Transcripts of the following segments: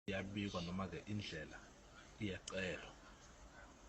iyabikwa noma-ke indlela iyacelwa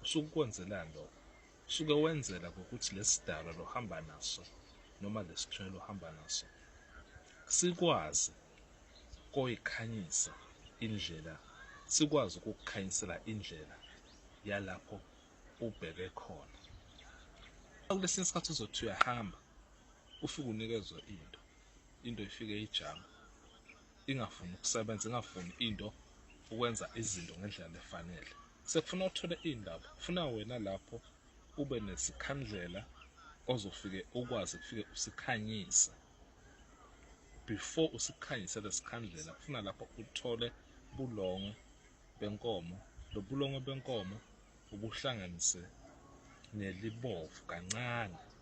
usuke ukwenzelani lokho usuke wenzela ngokuthi lesi dala lohamba naso noma lesithwele ohamba naso sikwazi koyikhanyisa indlela sikwazi ukukukhanyisela indlela yalapho ubheke khona kulesinye isikhathi uzothi uyahamba ufike unikezwe into into ifike ijama ingafuni ukusebenza ingafuni into ukwenza izinto ngendlela lefanele sekufuna uthole iy'ndaba kufuna wena lapho ube nesikhandlela ozofike ukwazi kufike usikhanyise before usikhanyise lesikhandlela kufuna lapho uthole bulongo benkomo lo bulongo benkomo ubuhlanganise nelibovu kancane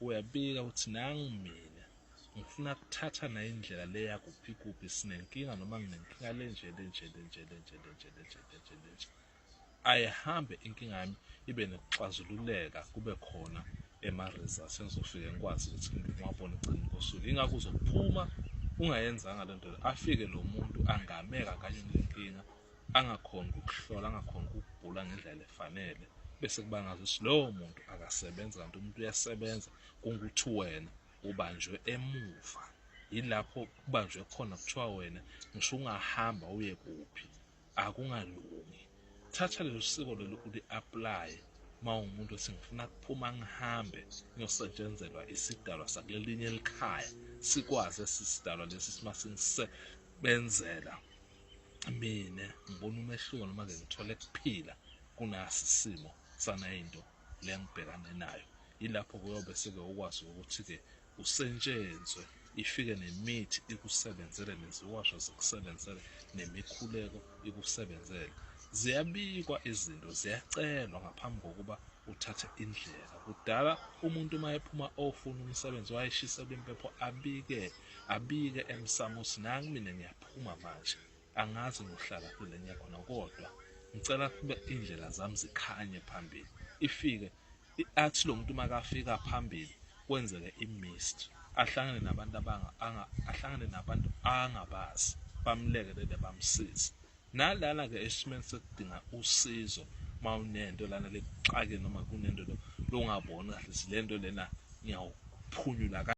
Uyabika uthi nangu mina ngifuna kuthatha naye indlela le yakuphi kuphi sinenkinga noma nginenkinga lenje lenje lenje lenje lenje lenje lenje lenje ayihambe inkinga yami ibe nokuxazululeka kube khona ema-results engizofike ngikwazi ukuthi ngiwabone ekugcini kosuku ingakho uzophuma ungayenzanga le nto afike lo muntu angameka kanye nenkinga angakhoni ukuhlola angakhoni ukugula ngendlela efanele bese kuba ngathi lowo muntu akasebenzi kanti umuntu uyasebenza kungukuthi wena ubanjwe emuva yilapho kubanjwe khona kuthiwa wena ngisho ungahamba uye kuphi akungalungi thatha lelo siko lelo uli-aplaye uma ungumuntu othi ngifuna kuphuma ngihambe ngiyosetshenzelwa isidalwa sakulelinye elikhaya sikwazi esi sidalwa lesi simasingise benzela mina ngibona umehluko noma ke ngithole kuphila kunasi simo sanayinto lengibhekane nayo ilapho kuyobe seke ukwazi ukuthi ke usentshenzwe ifike nemithi ikusebenzele neziwasho zikusebenzele nemikhuleko ikusebenzele ziyabikwa izinto ziyacelwa ngaphambi kokuba uthathe indlela kudala umuntu uma ephuma ofuna umsebenzi wayeshiselwa impepho abike Abike emsamo ukuthi nangu mina ngiyaphuma manje angazi ngohlala kule ngiya khona kodwa ngicela kube indlela zami zikhanye phambili ifike athi lo muntu makafika phambili kwenzeke imist ahlangane nabantu abanga ahlangane nabantu angabazi bamlekelele bamsize nalana ke esimeni sekudinga usizo mawunento lana lekuxake noma kunento longaboni kahle silento lena ngiyawuphunyula